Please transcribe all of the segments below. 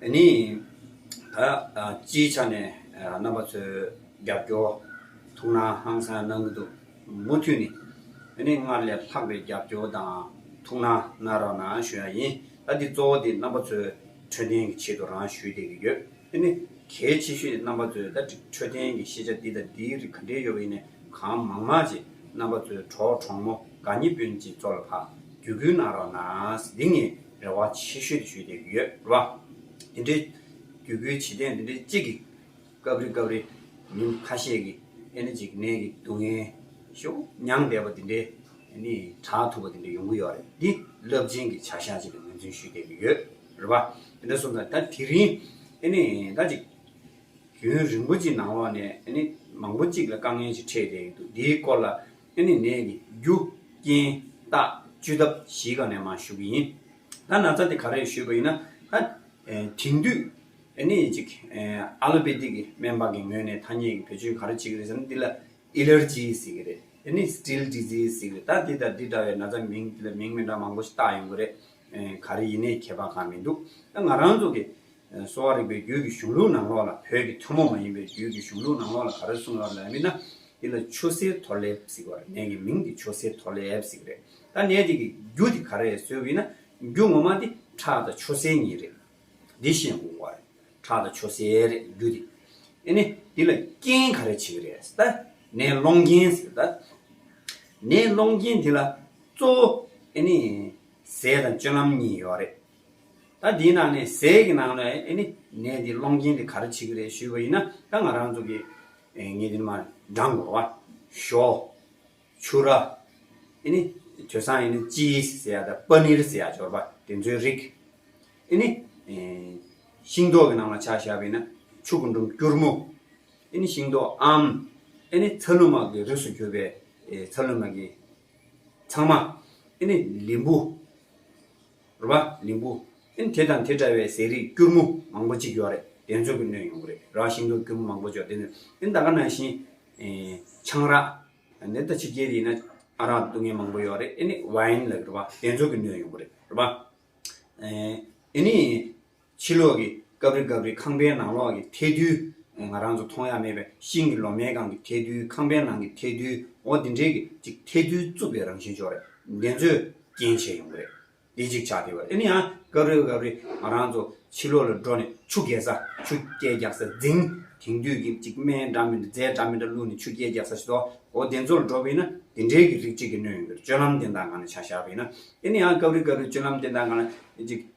ནི། ད་སྤྱིའི་ཆ་ནས་རྣམ་པ་ཚོའི་རྒྱབ་སྐྱོར་ཐུགས་སྣང་ཧང་སངས་གནང་གི་འདུག་མུ་མཐུད་ནས་ནི་སྔར་ལས་ལྷག་པའི་རྒྱབ་སྐྱོར་དང་ཐུགས་སྣང་གནང་རོགས་གནང་ཞུ་ཡག་ཡིན་ད་འདི་གཙོ་བོ་དེ་རྣམ་པ་ཚོའི་འཕྲོད་བསྟེན་གི་ཆེད་དུ་རང་ཞུས་བསྡད་གི་ཡོད་ནི་གལ་ཆེ་ཤོས་དེ་རྣམ་པ་ཚོའི་ད་འཕྲོད་བསྟེན་གི་ཤེས་བྱ་འདི་དང་འདིའི་རིགས་ག་འདྲའི་ཡོད་པ་ཡིན་ནས་གང་མང་མང་ཅིག་རྣམ་པ་ཚོའི་གྲོགས་གྲོགས་མོ་དགའ་ཉེ་དཔོན་ཅིག་ཚོགས་ལ་ཕ་རྒྱུད་ཁུལ་གནང་རོགས་གནང་འདི་ངས་རེ་བ་ཆེ་ཤོས་དེ་ཞུས་ཏེ་ཡོད་རེད་བ། དེ་འདྲའི་རྒྱུད་སྐུལ་བྱེད་ཐེངས་དེ་འདྲའི་གཅིག་གིས་སྐབས་རེ་སྐབས་རེ་མི་ཁ་ཤས་ཀྱིས་ཨེ་ན་འཇིགས་ནད་ཀྱི་སྡུག་བསྔལ་ཤོག་མྱང་འདས་པ་དེ་འདྲའི་ནི་གྲགས་ཐུབ་པ་དེ་འདྲ་ཡོང་གི་ཡོད་རེད་འདི་རླབས་ཆེན་གྱི་བྱ་བཞག་ཅིག་ལ་ངོས་འཛིན་ཞུས་ཏེ་ཡོད་རེད་བ། དེ་འདྲ་སོང་ཙང་ད་དེ་རིང་ཨེ་ནི་ད་ཅིག་རྒྱུན་རིང་པོ་ཅིག་ནང་ལོགས་ནས་ཨེ་ནི་མང་པོ་ཅིག་ལ་དཀའ་ངལ་ཞིག་འཕྲད་བསྡད་ཡོད་འདུག་འདིའི་སྐོར་ལ་དེ་ནི་ནད་ཀྱི་རྒྱུ་རྐྱེན་རྟགས་བཅོས་ཐབས་གཞི་གང་ནས་མ་ཞུ་གི་ཡིན། ད་ན་ཚ་དེ་ག་རེ་ཞུས་པ་ཡིན་ན། ད་དེང་དུས་ནི་ཅིག་ཨ་ལོ་པེ་ཏིག་གི་སྨན་པ་གི་ངོས་ནས་ཐ་སྙད་ཀྱི་བེད་སྤྱོད་ག་རེ་བྱེད་ཀྱི་རེད་ཟེར་ན་འདི་ལ་ཨི་ལེར་ཇི་ཟེར་གྱི་རེད། དེ་ནི Still Disease ཟེར་གྱི་རེད། ད་འདི་དང་འདི་འདྲ་བའི་ན་ཚ་མིང་འདི་ལ་མིང་མི་འདྲ་མང་པོ་ཞིག་བཏགས་ཡོང་གི་རེད། ག་རེ་ཡིན་ནའི་ཁྱད་པར་གང་མི་འདུག་ད་ང་རང་ཚོ་གི་གསོ་བ་རིག་པའི་རྒྱུད་ཀྱི་གཞུང་ལུགས་ནང་ལོགས་ལ་བོད་ཀྱི་ཐུན་མོང་མ་ཡིན་པའི་རྒྱུད་ཀྱི་གཞུང་ལུགས་ནང་ལོགས་ལ་ག་རེ་གསུངས་ལབ་ལ་མིན་ན་འདི་ལ་ཆུ་སེར་ཐོ་ལེབ་ཟིག་བ་རེད་ནས་ཀྱི་མིང་འདི་ཆུ་སེར་ཐོ་ལེབ་ཟིག་རེད་ད་ནས་འདི་ཀྱི་རྒྱུ་འདི་ག་རེད་ཟོས་བི་ན་རྒྱུ་ངོ་མ་འདི་ཁྲག་དང་ཆུ་སེར་གཉིས་རེད་འདི་ཤེས་དགོས་བ་རེད་ཁྲག་དང་ཆུ་སེར་རེད་རྒྱུ་འདི་ཨེ་ནས་འདི་ལ་རྐྱེན་ག་རེ་བྱེད་ཀྱི་རེད་ད་ནས་སློང་རྐྱེན་ཟིག་རེད་ད་ནས་སློང་རྐྱེན་འདི་ལ་གཙོ་བོ་ཨེ་ནས་ཟས་དང་སྤྱོད་ལམ་གཉིས་ཡོད་རེད་ད་འདིའི་ནང་ནས་ཟས་ཀྱི་ནང་ནས་ཨེ་ནི་ནས་འདི་སློང་རྐྱེན་འདི་ག་རེ་བྱེད་ཀྱི་རེད་ཞུས་པ་ཡིན་ན་ད་ང་རང་ཚོ་གི་ངེད་འདི་ནས་མ་འགྲངས་དགོས་བ། ཞོ། ཕྱུ་ར། ཨེ་ནི་དོས་སང་ཨེ་ནི་ལྕི་ཟེར་ཡ་དང་པ་ནིར་ཟེར་ཡ་འབྱོར་པ་དེ་ཚོའི་རིགས། ཨེ་ནི། ཤིང་ཏོག་གི་ནང་ལ་ཆ་བཞག་པ་ཡིན་ན་ཕྱུགས་ཀྱི་འབྲུམ་སྐྱུར་མོ། ཨེ་ནི་ཤིང་ཏོག་ཨམ། ཨེ་ནི་ཚ་ལུ་མ་གི་རིགས་སུ་གྱུར་པའི་ཚ་ལུ་མ་གི་ཚང་མ། ཨེ་ནི་ལིམ་བུ། རུ་བ། ལིང་བུ། ཨན་དེ་དང་དེ་འདྲ་བའི་ཟས་རིགས་སྐྱུར་མོ་མང་པོ་གཅིག་ཡོད་རེད་དེ་འཚོལ་གི་སྣོན་ཡོང་གི་རེད་ར་བ་ཤིང་ཏོག་སྐྱུར་མོ་མང་པོ་འཇོག་དེ་ནི་ཨན་ད་ག་ནང་བཞིན་ཆང་རག་ནད་ད་ཕྱི་རྒྱལ་དུ་ཡིན་ན་ཨ་རག་འདུག་ངན་མང་པོ་ཡོད་རེད་ཨན་ནི་བ་ཨན་ལ་གི་རུ་བ་དེ་འཚོལ་གི་སྣོན་ཡོང་གི་རེད་རུ་བ། ཨན་ནི། ཕྱི་ལོགས་ཀྱི་ཀབ་རི་ཀབ་རི་ཁང་པའི་ནང་ལོགས་ཀྱི་ཐལ་རྡུལ། ང་རང་ཚོ་མཐོང་ཡ་མེད་པའི་ཤིང་གི་ལོ་མའི་སྒང་གི་ཐལ་རྡུལ་ཁང་པའི་ནང་གི་ཐལ་རྡུལ་འོ་དེ་འདྲའི་གི་ཅིག་ཐལ་རྡུལ་རྩུབ་པའི་རང་བཞིན་ཅོག་རེ་འདི་ཚོས་རྐྱེན་བྱས་ཡོང་གི་རེད། དེ་ཅིག་ཆགས་དེ་བས་ཨེ་ནི་ཡང་ཀབ་རི་ཀབ་རི་ང་རང་ཚོ་ཕྱི་ལོགས་ལ་འགྲོ་ནས་ཆུ་རྐྱལ་ས་ཆུ་རྐྱལ་རྒྱག་ས་འཛིང། དེང་དུས་གི་ཅིག་སྨན་འདྲ་མི་འདྲ་རྫས་འདྲ་མི་འདྲ་བླུགས་ནས་ཆུ་རྐྱལ་རྒྱག་ས་ཞིག་ཏུ་འོ་དེ་ཚོ་ལ་འགྲོ་བས་ན་དེ་འདྲའི་གི་རིགས་ཅིག་གི་གནོད་ཡོང་གི་རེད་སྤྱོད་ལམ་དེ་འདྲ་ངང་ནས་ཆགས་བཞག་བས་ན་ཨེ་ནི་ཡང་ཀབ་རི་ཀབ་རི་སྤྱོད་ལམ་དེ་འདྲ་ངང་ནས་ཅིག་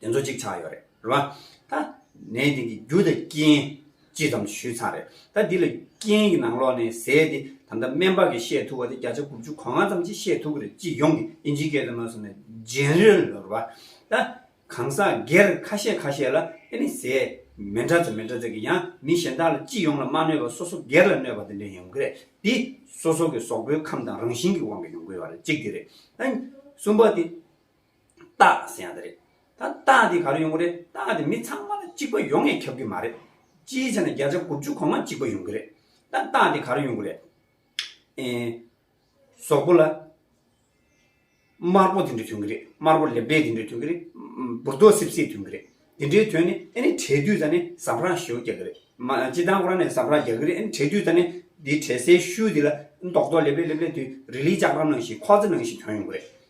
དེ་ཚོ་གཅིག་ཆགས་ཡོད་རེད་རེད་བ། ད། ནས་དེང་གི་རྒྱུ་དང་རྐྱེན། ཅི་ཙམ་ཞུས་ཚར་རེད། ད་འདི་ལ་རྐྱེན་གྱི་ནང་ལོགས་ནས་ཟེར་ཏེ་ད་ལྟ་སྨན་པ་གིས་བཤད་ཐུབ་པ་དེ་བརྒྱ་ཆ་དགུ་བཅུ་གོ་ལྔ་ཙམ་གྱིས་བཤད་ཐུབ་ཀྱི་རེད་སྤྱི་ཡོངས་ཀྱི་དབྱིན་ཇིའི་སྐད་དུ་མ་ཟེར་ན General རེད་བ། ད། གང་ཟག་སྒེར་ཁ་ཤས་ཁ་ཤས་ལ་ཨེ་ནི་ཟེར། མི་འདྲ་ཚོད་མི་འདྲ་ཚོད་ཀྱིས་ཡང་མི་གཞན་དག་ལ་སྤྱི་ཡོངས་ལ་མ་གནོད་པར་སོ་སོ་སྒེར་ལ་གནོད་པ་དེ་འདྲ་ཡོང་གི་རེད་དེ། སོ་སོ་གི་ཟོག་པོའི་ཁམས་དང་རང་བཞིན་གྱི་དབང་གིས་ཡོང་གི་ཡོད་རེད་གཅིག་དེ་རེད། ད། གསུམ་པ་དེ། རྟགས་ཟེར་ཡང་དེ་རེད། ད་རྟགས་དེ་ག་རེ་ཡོང་གི་རེད་རྟགས་དེ་མི་ཚང་མ་ལ་གཅིག་པ་ཡོང་ངེས་ཁྱབ་གི་མ་རེད། ཅིའི་ཕྱིར་ན་བརྒྱ་ཆ་དགུ་བཅུ་གོང་མ་གཅིག་པ་ཡོང་གི་རེད། ད་རྟགས་དེ་ག་རེ་ཡོང་གི་རེད། ཨེ། ཟོག་པོ་ལ། དམར་པོ་དེ་འདྲ་ཐོན་གི་རེད་དམར་པོ་ལེབ་ལེབ་དེ་འདྲ་ཐོན་གི་རེད། འབུར་རྡོ་སིབ་སིབ་ཐོན་གི་རེད། དེ་འདྲའི་དོན་ནི་ཨེ་ནས་གྲས་དུས་ད་ནི་ཟམ་རག་ཞོ་རྒྱག་གི་རེད། མ་སྤྱི་བཏང་ཁོ་རང་ནས་ཟམ་རག་རྒྱག་གི་རེད་ཨེ་ནས་གྲས་དུས་ད་ནི་དེའི་གྲས་སའི་ཤུལ་དེ་ལ་རྡོག་རྡོག་ལེབ་ལེབ་ལེབ་ལེབ་དེ་རི་ལིའི་ལྕགས་སྒྲོམ་ནང་བཞིན་ཁོག་རྩེ་ནང་བཞིན་ཐོན་ཡོང་གི་རེད།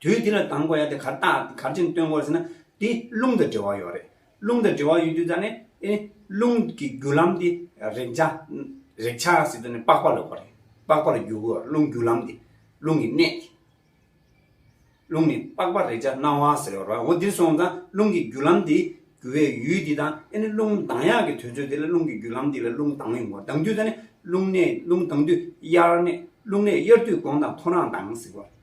དུས་དེ་ལ་དང་པོ་ཡ་དེ་གར་བཏགས་གར་ཅན་སྟོན་དགོས་ཟེར་ན་དེ་རླུང་དང་འབྲེལ་བ་ཡོད་རེད། རླུང་དང་འབྲེལ་བ་ཡོད་དུས་ད་ནི་རླུང་གི་རྒྱུ་ལམ་དེ་རེག་བྱ་རེག་བྱ་སྲིད་དུ་ནི་པགས་པ་ལོག་པ་རེད། པགས་པར་རྒྱུ་དགོས་རླུང་རྒྱུ་ལམ་དེ་རླུང་གི་གནད་དེ། རླུང་ནི་པགས་པར་རེག་བྱ་སྣང་བ་ཟེར་བ་རོ། འོ་འདིར་སོང་ཙང་རླུང་གི་རྒྱུ་ལམ་དེ་རྒྱུ་བའི་ཡུལ་དེ་དང་ཨེ་ནི་རླུང་ལྡང་ཡག་གི་དུས་ཚོད་དེ་ལ་རླུང་གི་རྒྱུ་ལམ་དེ་ལ་རླུང་ལྡང་ཡོང་དགོས་ལྡང་དུས་ད་ནི་རླུང་གནད་རླུང་ལྡང་དུས་དབྱར་གནད་རླུང་གནད་དབྱར་དུས་གོང་དང་ཐོ་རངས་ལྡང་ཟེར་བ།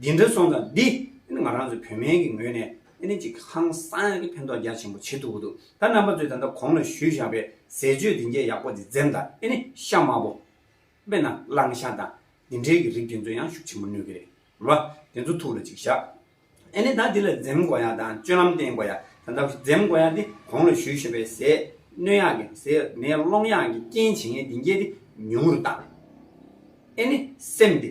འདི་འདྲ་སོང་ཙང་འདི་ནི་ང་རང་ཚོའི་བོད་སྨན་གྱི་ངོས་ནས་ཨ་ནི་ཅིག་ཧང་སང་གི་ཕན་ཐོག་རྒྱ་ཆེན་པོ་བྱེད་ཐུབ་ཀྱི་འདུག་ད་རྣམ་པ་ཚོས་ད་ལྟ་གོང་ལ་ཞུས་བཞག་པའི་ཟས་སྤྱོད་འདི་འཇའ་ཡག་པོ་འདི་འཛེམ་དང་ཨ་ནི་ཤ་དམར་པོ། དཔེར་ན་གླང་ཤ་དང་འདི་འདྲའི་གི་རིགས་དེ་ཚོ་ཡང་ཤུགས་ཆེན་པོ་ནུས་ཀྱི་རེད་ལ། དེ་ཚོ་ཐུགས་ལ་ཅིག་བཞག་ཨ་ནི་ད་འདི་ལ་འཛེམ་དགོས་ཡག་དང་སྤྱོད་ལམ་བསྟེན་དགོས་ཡག་ད་ལྟ་འཛེམ་དགོས་ཡག་འདི་གོང་ལ་ཞུས་བཞག་པའི་ཟས་སྣོད་ཡག་གི་ཟས་སྣོད་སློང་ཡག་གི་རྐྱེན་བྱེད་ངན་འདི་འཇའ་འདི་ཉུང་རུ་བཏང། ཨ་ནི་སེམས་འདི།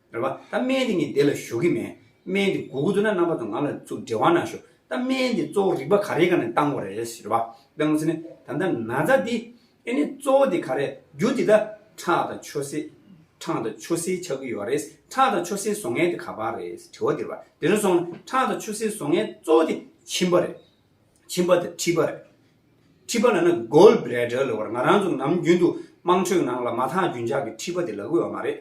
རེད་པ། ད་སྨན་དེ་ངས་དེ་ལ་ཞུ་གི་མེད། སྨན་དེ་གོ་གི་འདུག་ན་རྣམ་པ་དང་ངང་ལ་ཚུར་འབྲེལ་བ་གནང་ཞུ། ད་སྨན་དེ་གཙོ་བོ་རིག་པ་ག་རེའི་ཁ་ནས་བཏང་བ་རེད་རེད་པ། བསྟན་ངོ་ཚེ་ནི་ད་ལྟ་ན་ཚ་འདི། ཨེ་ནི་གཙོ་བོ་དེ་ག་རེད་རྒྱུ་དེ་ད། ཁྲག་དང་ཆུ་སེར། ཁྲག་དང་ཆུ་སེར་ཆགས་ཀྱི་ཡོད་རེད། ཁྲག་དང་ཆུ་སེར་བཟོ་མཁན་དེ་ག་པ་རེད་དྲི་བ་དེ་རེད་པ། དེ་རིང་སོང་ན་ཁྲག་དང་ཆུ་སེར་བཟོ་མཁན་གཙོ་བོ་དེ་མཆིན་པ་རེད། མཆིན་པ་དང་མཁྲིས་པ་རེད། མཁྲིས་པ་ལ་ན Gall Bladder ལོ་བར་ང་རང་ཚོ་ནམ་རྒྱུན་དུ་དམངས་ཁྲོད་ནང་ལ་མ་ཐག་རྒྱུན་ཆགས་ཀྱི་མཁྲིས་པ་དེ་ལ་གོ་བ་མ་རེད།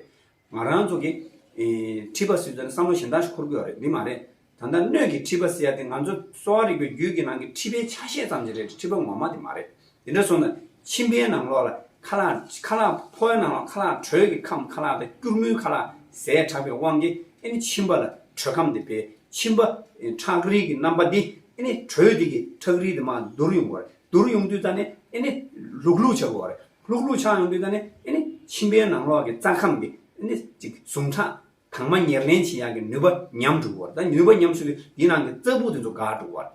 ང་རང་ཚོ་གིས། མཁྲིས་པ་སེལ་ཚུལ་ནི་བསམ་བློ་གཞན་དག་ཞིག་འཁོར་དགོས་པ་རེད་འདི་མ་རེད། ད་ལྟ་སྣོད་ཀྱི་མཁྲིས་པ་སེལ་ཡ་དེ་ང་ཚོ་གསོ་བ་རིག་པའི་རྒྱུད་ཀྱི་ནང་གི་མཁྲིས་པའི་ཆ་ཤས་ཙམ་ཞིག་རེད་མཁྲིས་པ་ངོ་མ་དེ་མ་རེད། དེ་འདྲ་སོང་ན་མཆིན་པའི་ནང་ལོགས་ལ་ཁ་ལག། ཁ་ལག་ཕོའི་ནང་ལོགས་ཁ་ལག་དྲོད་ཀྱི་ཁམས་ཁ་ལག་དང་སྐྱུར་མོའི་ཁ་ལག་ཟས་ཁྲག་པའི་དབང་གིས་ཨེ་ནི་མཆིན་པ་ལ་དྲོད་ཁམས་དེ་སྦས་མཆིན་པ། ཁྲག་རིལ་གྱི་རྣམ་པ་འདི་ཨེ་ནི་དྲོད་དེ་གིས་ཁྲག་རིལ་དེ་མ་བསྡུར་ཡོང་གི་བ་རེད་བསྡུར་ཡོང་དུས་ཙམ་ནས་ཨེ་ནི་ལུག་ལུག་བྱ་དགོས་བ་རེད་ལྷུག་ལྷུག་ཆགས་ཡོང་དུས་ད་ནི་ཨེ་ནི་ཁྱིམ་པའི་ནང་ལོགས་ཀྱི་རྩྭ་ཁམས་ཀྱི་ཨེ་ནི་ཅིག་ཟུངས་ཁྲག་དྭངས་མ་ཉེར་ལེན་བྱེད་ཡག་གི་ནུས་པ་ཉམས་འགྲོ་བར་ད་ནུས་པ་ཉམས་ཚུལ་གྱིས་འདི་ནང་གི་རྩྭ་སྦུག་དེ་ཚོ་འགག་འགྲོ་བར།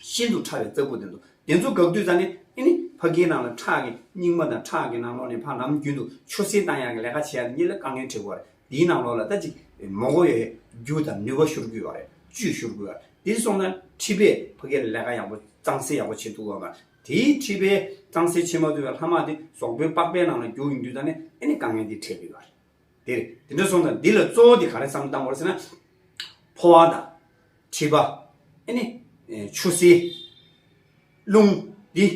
ཤིན་ཏུ་ཕྲ་བའི་རྩྭ་སྦུག་དེ་ཚོ་དེ་ཚོ་འགག་དུས་ད་ནི་ཨེ་ནི་ཕ་གིའི་ནང་ལ་ཁྲག་གི་སྙིགས་མ་དང་ཁྲག་གི་ནང་ལོགས་ནས་ཕ་ལམ་རྒྱུན་དུ་ཆུ་བསྲིང་བཏང་ཡག་གི་ལས་ཀ་བྱེད་ཡག་གི་གཉིད་ལ་དཀའ་ངལ་འཕྲད་དགོས་བར་དེའི་ནང་ལོགས་ལ་ད་ཅིག་མོག་གོ་ཡའི་རྒྱུ་དང་ནུས་པ་ཤོར་དགོས་བར་བཅུད་ཤོར་དགོས་བར་དེ་སོང་ད་ཁྲི་པས་ཕ་གི་ལས་ཀ་ཡག་པོ་གཙང་སེལ་ཡག་པོ་བྱེད་ཐུབ་དགོས་བར་དེའི་མཁྲིས་པའི་གཙང་སེལ་ཕྱེ་མ་དུལ་བའི་ལྷ་མ་དེ་ཟོག་པོའི་པགས་པའི་ནང་ལ་རྒྱུག་ཡོང་དུས་དང་ནི་ཨེ་ནི་དཀའ་ངལ་འདི་འཕྲད་དུས་བར། འདིར་འདི་འདྲ་གསུངས་དང་འདི་ལ་གཙོ་བོ་དེ་ག་རེ་བསམ་གཏམ་བར་ཟེར་ན། ཕོ་བ་དང། མཁྲིས་པ། ཨེ་ནི། ཆུ་བསིལ། རླུང། འདི།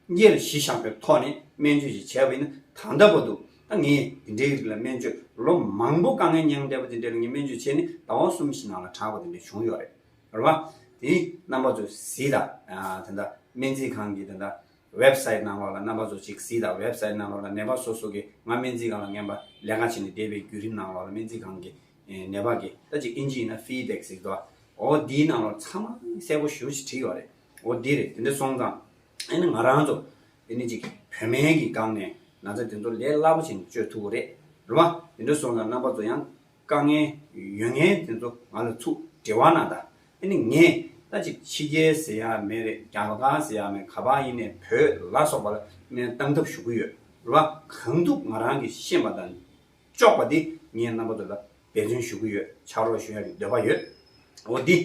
གཉེར་གཞི་བཞག་པའི་ཐོག་ནས་སྨན་བཅོས་ཞིག་བྱས་པ་ཡིན་ན་གང་འདྲ་བོ་འདུག་ད་ངས་འདི་འདྲའི་རིགས་ལ་སྨན་བཅོས་ལོ་མང་པོ་དཀའ་ངལ་མྱངས་བསྡད་པ་དེ་འདྲའི་རིགས་ངས་སྨན་བཅོས་བྱས་ནས་ཟླ་བ་གསུམ་བཞི་ནང་ལ་དྲགས་པ་དེ་འདྲ་བྱུང་ཡོད་རེད། རེད་བ། དེ་རྣམ་པ་ཚོ་གཟིགས་ད། དེ་འདྲ་སྨན་རྩིས་ཁང་གི་དེ་འདྲ Web site ནང་ལོགས་ལ་རྣམ་པ་ཚོ་གཅིག་གཟིགས་ད Web site ནང་ལོགས་ལ་ནད་པ་སོ་སོ་གི་ང་སྨན་རྩིས་ཁང་ལ་ངན་པ་ལས་ཀ་བྱས་ནས་བསྡད་པའི་བརྒྱུད་རིམ་ནང་ལོགས་ལ་སྨན་རྩིས་ཁང་གི་ནད་པ་གི་ད་ཅིག་ཨིན་ཇི་ཡིན་ན Feedback གཟིགས་ད། འོ་དེའི་ནང་ལོགས་ཚང་མ་གསལ་པོ་ཞུ་ཅིག་བྲིས་བ་རེད། འོ་དེ་རེད་དེ་འདྲ་སོང་ཙང། ཨེ་ནི་ང་རང་ཚོ་དེ་ནི་ཅིག་བོད་སྨན་གྱི་སྒང་ནས་ན་ཚ་དེ་ཚོ་ལས་སླ་པོ་བྱས་ནས་བཅོས་ཐུབ་བོ་རེད་བ། དེ་འདྲ་སོང་ཙང་རྣམ་པ་ཚོ་ཡང་དཀའ་ངལ། ཡོད་ངེས་དེ་ཚོ་ང་ལ་ཚུགས་དྲི་བ་ན་ད་ནི་ངས་ད་ཅིག་ཕྱི་རྒྱལ་ཟེར་ཡག་མེད་རེད་རྒྱ་བ་གང་ཟེར་ཡག་མེད་ག་པ་ཡིན་ནས་བོད་ལ་སོགས་པ་ལ་སྨན་གཏང་ཐབས་ཞུ་གི་ཡོད་ལ་གང་ཐུབ་ང་རང་གི་ཤེས་པ་དང་ལྕོགས་པ་དེ་ངས་རྣམ་པ་ཚོ་ལ་འབད་བརྩོན་ཞུ་གི་ཡོད་ཕྱག་རོགས་ཞུ་ཡག་གི་འདོད་པ་ཡོད་འོ་དེ་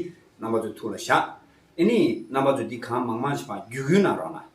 རྣམ་པ་ཚོ་ཐུགས་ལ་བཞག་ཨེ་ནི་རྣམ་པ་ཚོ་འདི་གང་མང་མང་ཞིག་བརྒྱུད་བརྒྱུད་གནང་རོགས་གནང།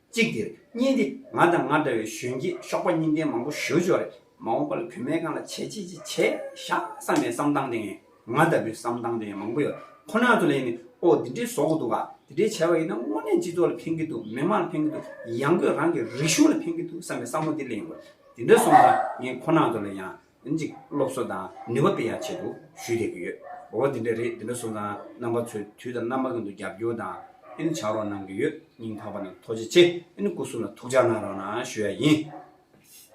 གཅིག་དེར་གཉིས་འདི་ང་དང་ང་འདྲ་བའི་གཞོན་སྐྱེས་གཤོག་པ་གཉིས་ལྡན་མང་པོ་བཞུར་འཇོག་རེད་མ་འོངས་པ་ལ་བུད་མེད་གང་ལ་བྱས་ཅི་ཅི་བྱས་བཞག་བསམ་པའི་བསམ་སྟངས་དེ་ངས་ང་ལྟ་བུའི་བསམ་སྟངས་དེ་མང་པོ་ཡོད་ཁོ་ནར་དུ་ལེན་ནས་ཨོ་དེ་འདྲའི་བཟོ་གི་འདུག་ག་དེ་འདྲའི་བྱས་པ་ཡིན་ན་དངོས་གནས་སྤྱི་ཚོགས་ལ་ཕན་གི་འདུག་མི་དམངས་ལ་ཕན་གི་འདུག་ཡང་སྒོས་རང་གི་རིག་གཞུང་ལ་ཕན་གི་འདུག་བསམ་པའི་བསམ་བློ་འདི་ལེན་དགོས་དེ་འདྲ་སོང་ཙང་ངས་ཁོ་ནར་དུ་ལ་ཡང་གཅིག་སློབ་གསོ་དང་ནུས་པ་སྤེལ་ཡག་ཆེད་དུ་ཞུས་བསྡད་ཀྱི་ཡོད། འོ་དེ་འདྲ་རེད་དེ་འདྲ་སོང་ཙང་རྣམ་པ་ཚོས་དུས་དང་རྣམ་པ་ཀུན་ཏུ་རྒྱབ་སྐྱོར་དང་ཕྱག་རོགས་གནང་གི་ཡོད་སྙིང་ཐག་པ་ནས་ཐོགས་རྗེ་ཆེ་སྐུ་གསུམ་ལ་ཐུགས་ཅག་ནང་རང་ན་ཞུ་ཡ་ཡིན།